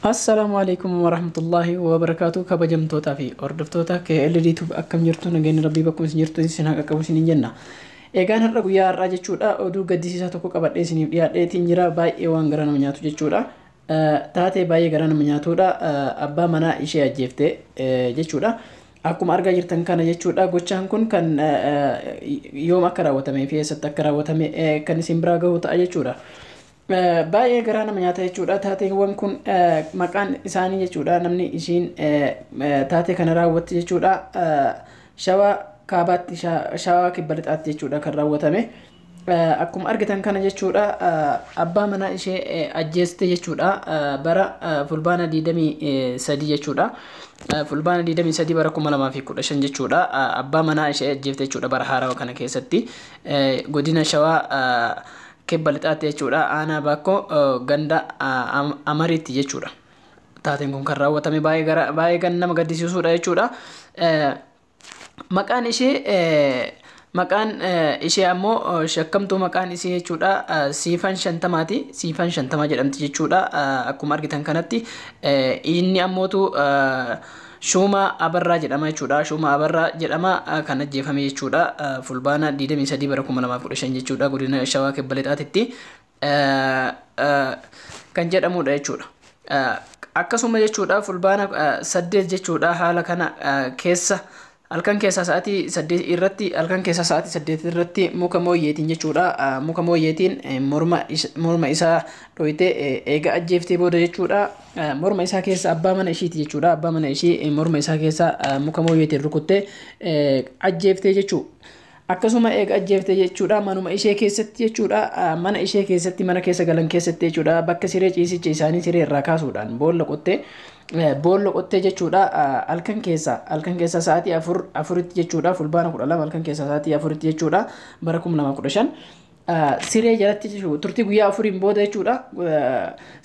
Assalaamu alaikum warahmatullahi wabarakatuh kabajamtootaa fi hordoftoota KLD Tube akkam jirtu nageenyi rabbii bakkuma isin jirtu isin haa qaqqabu isiniin jenna. Egaan har'a guyyaa har'aa jechuudha oduu gaddisiisaa tokko qabadhee isiniif dhiyaadheetiin jira baay'ee waan garaa nama nyaatu jechuudha. Eh, Taatee baay'ee garaa nama nyaatudha Eh, abbaa manaa ishee ajjeefte eh, jechuudha. Akkuma argaa jirtan kana jechuudha gochaan kun kan eh, eh, yoom akka raawwatamee fi eessatti akka raawwatame eh, kan isin biraa gahu ta'a jechuudha. Baay'ee garaa nama nyaata jechuudha. Taateewwan kun maqaan isaanii jechuudha namni ishiin taatee kana raawwatte jechuudha. Shawaa kaabaatti shawaa kibba lixaatti jechuudha kan raawwatame. Akkuma argitan kana jechuudha abbaa manaa ishee ajjeeste jechuudha bara fulbaana 23 jechuudha. Fulbaana 23 bara 2015 jechuudha abbaa manaa ishee ajjeefte jechuudha bara haarawa kana keessatti godina shawaa Kibba Lixaatti jechuudha aanaa Baakkoo ganda Amariitti jechuudha. Taateen kun kan raawwatame baay'ee kan nama gaddisiisudha jechuudha. Maqaan ishee maqaan ishee ammoo shakkamtuu maqaan ishee jechuudha siifan shantamaati siifan shantamaa jedhamti jechuudha akkuma argitan kanatti inni ammootu Shuuma Abarraa jedhama jechuudha. Shuuma Abarraa jedhama kan ajjeefame jechuudha. Fulbaana 23 bara 2015 jechuudha. Godina Shawaa Kibba Lixaatitti kan jedhamudha jechuudha. Akkasuma jechuudha fulbaana 8 jechuudha haala kana keessa Halkan keessaa sa'aatii 8 irratti halkan keessaa sa'aatii 8 irratti muka mooyyeetiin jechuudha muka mooyyeetiin morma morma isaa dhoyte eega ajjeeftee booda jechuudha morma isaa keessa abbaa mana ishiiti jechuudha abbaa mana ishii morma isaa keessa muka mooyyeetiin rukutte ajjeeftee jechuudha. Akkasuma eega ajjeefte jechuudha manuma ishee keessatti jechuudha mana ishee keessatti mana keessa galan keessatti jechuudha bakka siree ciisicha isaanii siree irraa kaasuudhaan boolla qottee boolla qottee jechuudha halkan keessa halkan keessa sa'aatii afur afuritti jechuudha fulbaana kudha lama halkan keessa sa'aatii afuritti jechuudha bara kuma lama kudha shan siree jalatti jechuudha turtii guyyaa afuriin booda jechuudha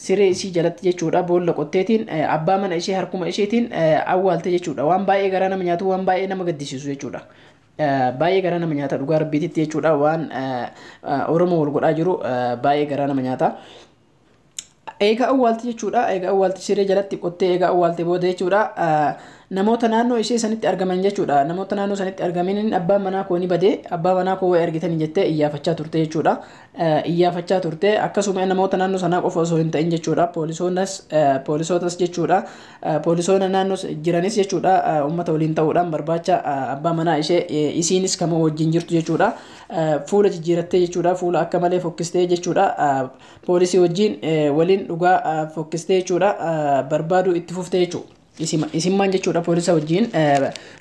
siree isii jalatti jechuudha boolla qotteetiin abbaa mana ishee harkuma isheetiin awwaalte jechuudha waan baay'ee garaa nama nyaatu waan baay'ee nama gaddisiisu jechuudha. Baay'ee garaa nama nyaata dhugaa rabbiititti jechuudha waan Oromoo wal godhaa jiru baay'ee garaa nama nyaata. Eegaa awwaalti jechuudha. Eegaa awwaalti siree jalatti qottee eegaa awwaalte booda jechuudha. Namoota naannoo ishee sanitti argaman jechuudha. Namoota naannoo sanitti argamaniin abbaan manaa koo ni bade abbaa manaa koo wayi argitanii jettee iyyaafachaa turte jechuudha. Iyyaafachaa turte akkasuma namoota naannoo sanaa qofa osoo hin ta'in jechuudha. Poolisootas poolisootas jechuudha. Poolisoona naannoo jiranis jechuudha uummata waliin ta'uudhaan barbaacha abbaa manaa ishee isiinis kama wajjin jirtu jechuudha fuula jijjiirattee jechuudha fuula akka malee fokkistee jechuudha poolisii wajjin waliin dhugaa fokkistee jechuudha barbaaduu itti fuftee jechuudha. Isimmaan jechuudha poolisa wajjin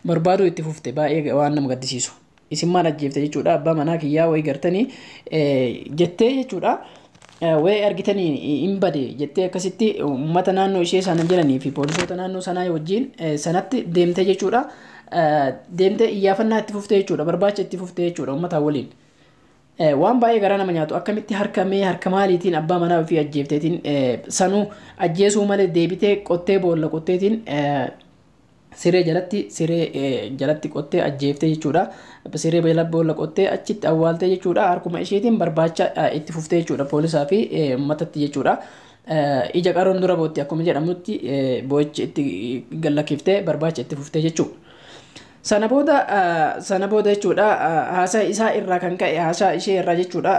barbaaduu itti fufte baay'ee waan nama gaddisiisu. isin maal ajjeefte jechuudha abbaa manaa kiyyaa wayi gartanii jettee jechuudha wayi argitanii hin bade jettee akkasitti uummata naannoo ishee sana jiranii fi poolisoota naannoo sanaa wajjin sanatti deemtee jechuudha deemtee iyyaafannaa itti fuftee jechuudha barbaacha itti fuftee jechuudha uummataa waliin. Waan baay'ee garaa nama nyaatu akkamitti harka mee harka maaliitiin abbaa manaa ofii ajjeefteetiin sanuu ajjeesuu malee deebitee qottee boolla qotteetiin siree jalatti siree jalatti qottee ajjeeftee jechuudha. Siree jala boolla qottee achitti awwaaltee jechuudha. Harkuma isheetiin barbaacha itti fuftee jechuudha poolisaa fi uummatatti jechuudha. Ija qaroon dura bootti akkuma jedhamutti boo'ichi itti gallakkiftee barbaacha itti fuftee jechuudha. Sana booda sana booda jechuudha haasaa isaa irraa kan ka'e haasaa ishee irraa jechuudha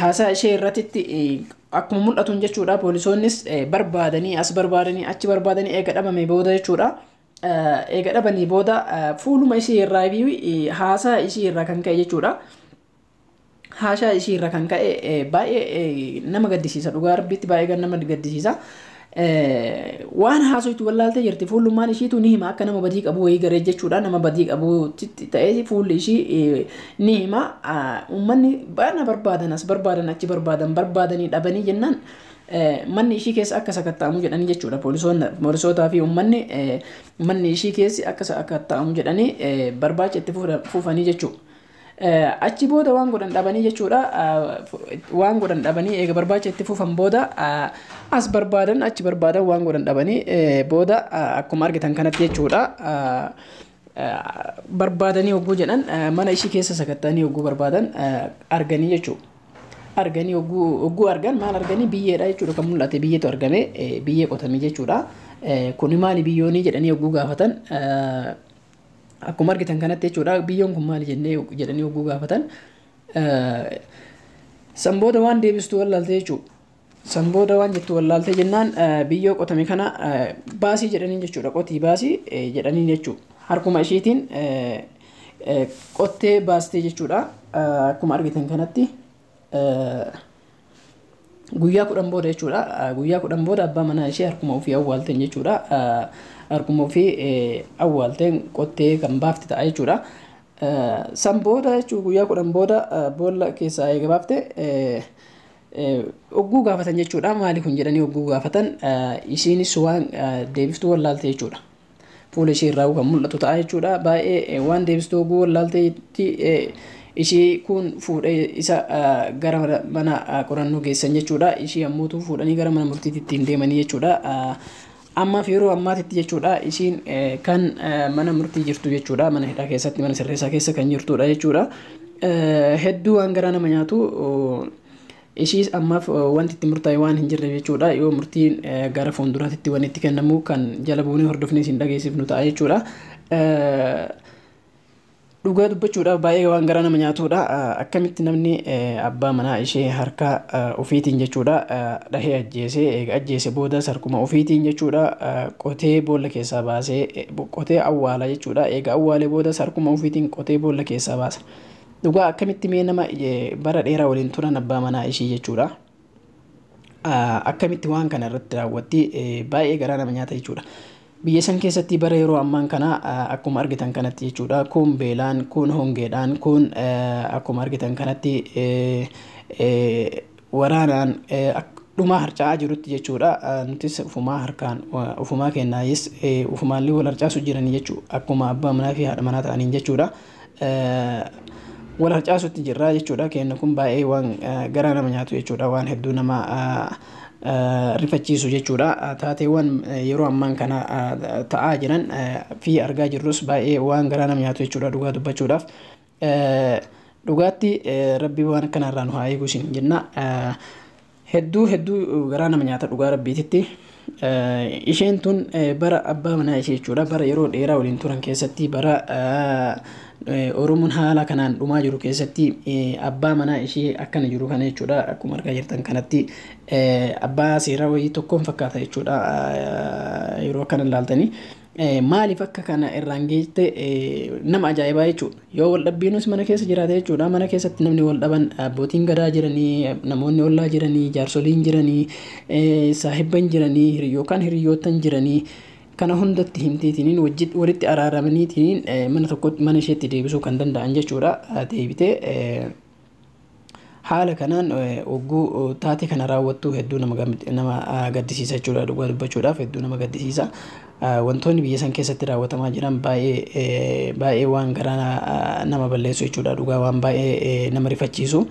Haasaa ishee irratitti akkuma mul'atuun jechuudha poolisoonnis barbaadanii as barbaadanii achi barbaadanii eega dhabamee booda jechuudha. Eega dhabanii booda fuuluma ishee irraa fi haasaa ishee irraa kan ka'e jechuudha. Haasaa ishee irraa kan ka'e baay'ee nama gaddisiisa dhugaa rabbiitti baay'ee nama gaddisiisa. Waan haasoytu wallaaltee jirti. Fuullummaan ishiitu ni hima akka nama badii qabu wayii garee jechuudha. Nama badii qabutti ta'ee fuulli ishii eh, ni hima. Ah, Uummanni baana barbaadan as barbaadan achi barbaadan barbaadanii dhabanii jennaan eh, manni ishii keessa akka sakatta'amu jedhanii jechuudha. Poolisoonni- Poolisootaa fi uummanni eh, manni ishii keessi akka sakatta'amu jedhanii eh, barbaacha itti fufa- fufanii jechuudha. Achi booda waan godhan dhabanii jechuudha. Waan godhan dhabanii eega barbaacha itti fufan booda as barbaadan achi barbaadan waan godhan dhabanii booda akkuma argitan kanatti jechuudha. Barbaadanii hogguu jedhan mana ishii keessa sakatta'anii hogguu barbaadan arganii jechuudha. Arganii hogguu argan maal arganii biyyeedha jechuudha kan mul'ate biyyeetu argame biyyee qotame jechuudha. Kuni maali biyyoonii jedhanii hogguu gaafatan Akkuma argitan kanatti jechuudha biyyoon kun maali jennee jedhanii hogguu gaafatan san booda waan deebistu wallaaltee jechuudha. San booda waan jettu wallaaltee jennaan biyyoo qotame kana baasii jedhanii jechuudha qotii baasii jedhanii jechuudha. Harkuma ishiitiin qottee baastee jechuudha akkuma argitan kanatti. Guyyaa kudhan booda jechuudha. Guyyaa kudhan booda abbaa manaa ishee harkuma ofii awwaalteen jechuudha. Harkuma ofii awwaalteen qottee kan baafte ta'a jechuudha. San booda jechuun guyyaa kudhan booda boolla keessaa eega baafte ogguu gaafatan jechuudha. Maali kun jedhanii ogguu gaafatan ishiinis waan deebiftuu wallaalte jechuudha. fuula ishee irraa kan mul'atu ta'a jechuudha. Baay'ee waan deebistu oguu wallaalteetti ishii kun fuudhee isa gara mana qorannoo geessan jechuudha. Ishii ammuutu fuudhanii gara mana murtiitti ittiin deemanii jechuudha. Ammaaf yeroo ammaatitti jechuudha ishiin kan mana murtii jirtu jechuudha. Mana hidhaa keessatti mana sirreessaa keessa kan jirtudha jechuudha. Hedduu waan garaa nama nyaatu Ishiis ammaaf wanti itti murtaa'e waan hin jirreef jechuudha. Yoo murtiin gara fuulduraatitti wanni itti kennamu kan jala buunee hordofnee isin dhageessifnu ta'a jechuudha. Dhugaa dubbachuudhaaf baay'ee waan garaa nama nyaatudha. Akkamitti namni abbaa manaa ishee harka ofiitiin jechuudha dhahee ajjeesee eega ajjeese boodas harkuma ofiitiin jechuudha qotee boolla keessaa baasee qotee awwaala jechuudha. Eega awwaalee boodas harkuma ofiitiin qotee boolla keessaa baasa. Dhugaa akkamitti mee nama bara dheeraa waliin turan abbaa manaa ishii jechuudha. Akkamitti waan kana irratti raawwatti baay'ee garaa nama nyaata jechuudha. Biyya san keessatti bara yeroo ammaan kana akkuma argitan kanatti jechuudha kun beelaan kun hongeedhaan kun akkuma argitan kanatti waraanaan dhumaa harca'aa jirutti jechuudha. Nutis ufumaa harkaan ufumaa kennaayis ufumaallee wal harcaasu jiran jechuu akkuma abbaa manaa fi haadha manaa ta'aniin jechuudha. Wal harcaasutti jirra jechuudha. Kenna kun baay'ee waan garaa nama nyaatu jechuudha. Waan hedduu nama rifachiisu jechuudha. Taateewwan yeroo ammaan kana ta'aa jiran fi argaa jirrus baay'ee waan garaa nama nyaatu jechuudha dhugaa dubbachuudhaaf. Dhugaatti rabbii waan akkanaa irraa nu haa eeguu isiniin jenna. Hedduu hedduu garaa nama nyaata dhugaa rabbiititti. Isheen tun bara abbaa manaa ishee jechuudha bara yeroo dheeraa waliin turan keessatti bara Oromoon haala kanaan dhumaa jiru keessatti abbaa manaa ishee akkana jiru kana jechuudha akkuma argaa jirtan kanatti abbaa seeraa wayii tokkoon fakkaata jechuudha yeroo akkana ilaaltanii. Maaliif akka kana irraan geette nama ajaa'ibaa jechuudha. Yoo wal dhabbiinus mana keessa jiraate jechuudha. Mana keessatti namni wal dhaban abbootiin gadaa jiranii, namoonni ollaa jiranii, jaarsoliin jiranii, saahibban jiranii yookaan hiriyyootan jiranii kana hundatti himteetiniin walitti araaramaniitiin mana tokkotti mana isheetti deebisuu kan danda'an jechuudha. Deebitee Haala kanaan ogguu taatee kana raawwattu hedduu nama gaddisiisa jechuudha dhugaa dubbachuudhaaf hedduu nama gaddisiisa. Wantoonni biyya san keessatti raawwatamaa jiran baay'ee baay'ee waan garaa nama balleessu jechuudha dhugaa waan baay'ee nama rifachiisu.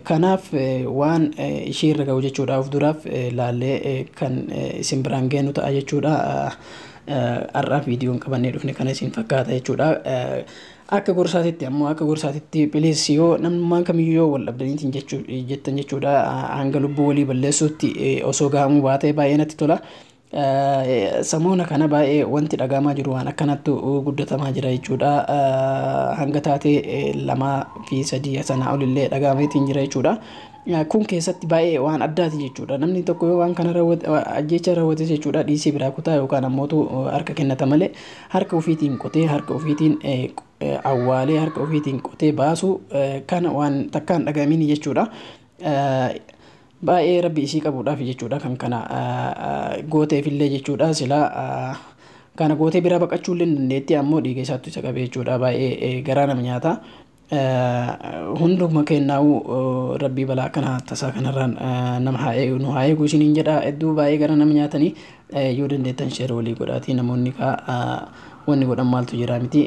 Kanaaf waan ishii irra ga'u jechuudha of duraaf laallee kan isin biraan geenu ta'a jechuudha. Har'aaf viidiyoon qabannee dhufne kana isin fakkaata jechuudha. Akka gorsaatitti ammoo akka gorsaatitti please yoo namnummaan kamiyyuu yoo wal dhabdaniitiin jechuu jettan jechuudha hanga lubbuu walii balleessuutti eh, osoo gahamuu baatee baay'ee natti tola. Eh, Samoona kana baay'ee wanti dhagaamaa jiru waan akkanattu guddatamaa jira jechuudha. Eh, Hanga taatee eh, lamaa fi sadii sanaa olillee dhagaameetiin jira jechuudha. Kun keessatti baay'ee waan addaati jechuudha. Namni tokko yoo waan kana raawwate ajjeechaa raawwate jechuudha dhiisii biraa kutaa yookaan ammootu harka kennata malee harka ofiitiin qotee harka ofiitiin awwaalee harka ofiitiin qotee baasuu kana waan takkaan dhagaamiin jechuudha. Baay'ee rabbi isii qabuudhaaf jechuudha kan kana gooteefillee jechuudha silaa kana gootee biraa baqachuu illee dandeetti ammoo dhiiga isaattu isa qabee jechuudha baay'ee garaa nama nyaata. Hunduma keennaa'uu rabbii balaa akkana tasaa kanarraan nama haa eegu nu haa eegu isiniin jedha hedduu baay'ee gara nama nyaatanii yoo dandeettan sheer walii godhaatii namoonni kaa wanni godhan maaltu jira miti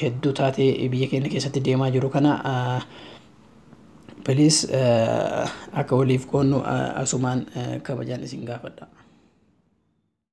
hedduu taatee biyya keenya keessatti deemaa jiru kana piliis akka waliif qoonnu asumaan kabajaan isin gaafadha.